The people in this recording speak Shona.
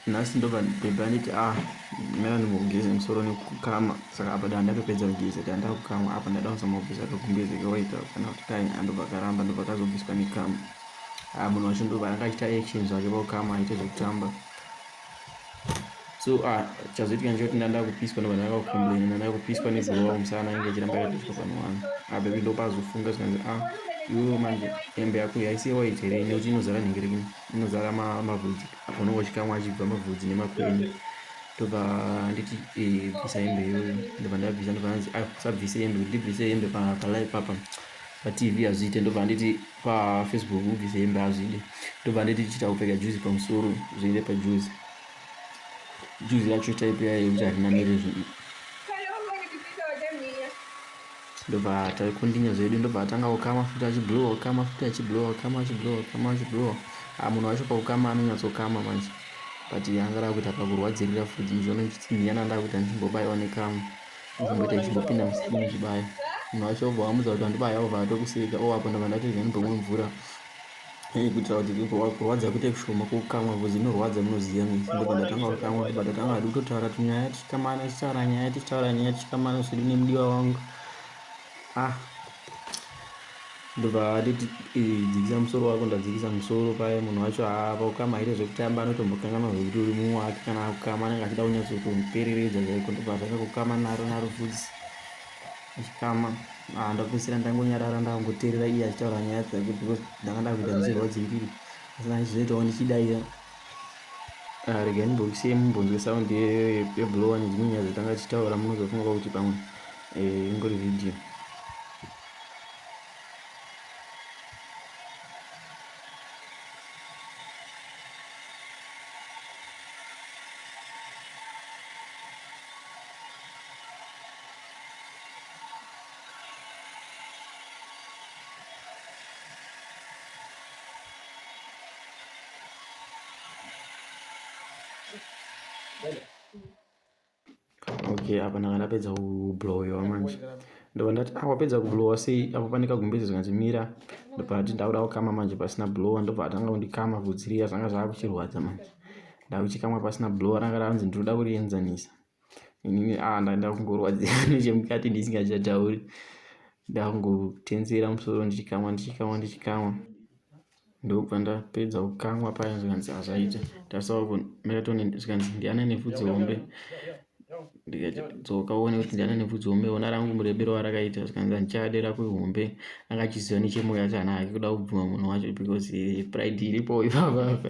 nhasi ndobva bhebhe anditi a ah, mera ndimbogeze musoro nekukama saka apa dana ndakapedza kugeza dana ndakukamwa apa ndada kuzomabvisa akakumbeze kawaita kana kuti kai andobva akaramba ndobva akazobviswa nekama a ah, munhu wacho ndobva anga achita actions ake pakukama aite zvekutamba so a ah, chazoitika ndichoti ndanda kupiswa ndobva ndanga kukomplaina ndanda kupiswa negurowa kumusana inge ichiramba yakatiswa pano wani a bebi ndopazofunga zvikanzi a iwewo manje hembe yako yaisiye waiti here nekuti inozara nhengerekini inozara mavhudzi apa unenge uchikamwa achibva mavhudzi nemakwene ndobva anditi eh, bvisa hembe iyoyo ndobva ndabvisa ndobva anzi ah, usabvise hembe kuti ndibvise hembe palive papa patv hazviite ndobva anditi pafacebook ubvise hembe hazvide ndobva anditi chita kupfeka juzi pamusoro zviende pajuzi juzi yacho taipe yayo yekuti harinamire zvinhu ndobva taikundinya zvedu ndobva atanga kukama futi achiblowa kukama futi achiblowa kukama achiblowa kukama achiblowa ah, munhu wacho pakukama anonyatsokama manje but anga daa kuita pakurwadzirira futi muzviona ndichitsinhiyana ndaa kuita ndichimbobaiwa nekamu ndichimboita ndichimbopinda musini ndichibaya munhu wacho obva wamudza kuti andibaya obva atokuseka owapo ndobva ndatoiza ndibomwe mvura Hey, kuitira kuti kurwadza kuite kushoma kukamwa vhudzi inorwadza munoziva mese ndipo ndatanga kukamwa ndipo ndatanga hadi kutotaura tinyaya tichikamana tichitaura nyaya tichitaura nyaya tichikamana zvedu nemudiwa wangu ah ndobva atiti dzikisa musoro wako ndadzikisa musoro paye munhu wacho haapa kukama haite zvekutamba anotombokanganwa zvekuti uri mumwe wake kana akukama anenge achida kunyatsotomupereredza chaiko ndobva atanga kukama naro naro vhudzi achikama ah, ndapedzisira ndangonyarara ndakangoteerera iye achitaura nyaya dzake because ndanga ndakuita ndichirwadzimbiri asi ndaizoitawo ndichidaira ah, regai ndimbobisei mumbonzwe sound yeblowa nedzimwe nyaya dzatanga tichitaura munozofunga kwakuti pamwe eh, ingori video okay apa ndanga ndapedza kublowiwa manje ndobva ndati ah wapedza kublowa sei apo pane kagumbezi zvikanzi mira ndobva ndati ndakuda kukama manje pasina blowa ndobva atanga kundikama vhudzi riya zvanga zvava kuchirwadza manje ndakuchikamwa pasina blowa ranga ranzi ndinoda kurienzanisa inini a ah, ndaenda kungorwadzira nechemukati ndisingachatauri ndakungotenzera musoro ndichikamwa ndichikamwa ndichikamwa ndokubva ndapedza kukamwa paya zvikanzi hazvaita tarisavo melatonin zvikanzi ndiana nevhudzi hombe ndikadzoka uone kuti ndiana nevhudzi hombe ona rangu murebero warakaita zvikanzi handichade rako ihombe angachiziva nechemoyo yacho hana hake kuda kubvuma munhu wacho because pride iripo ipapapa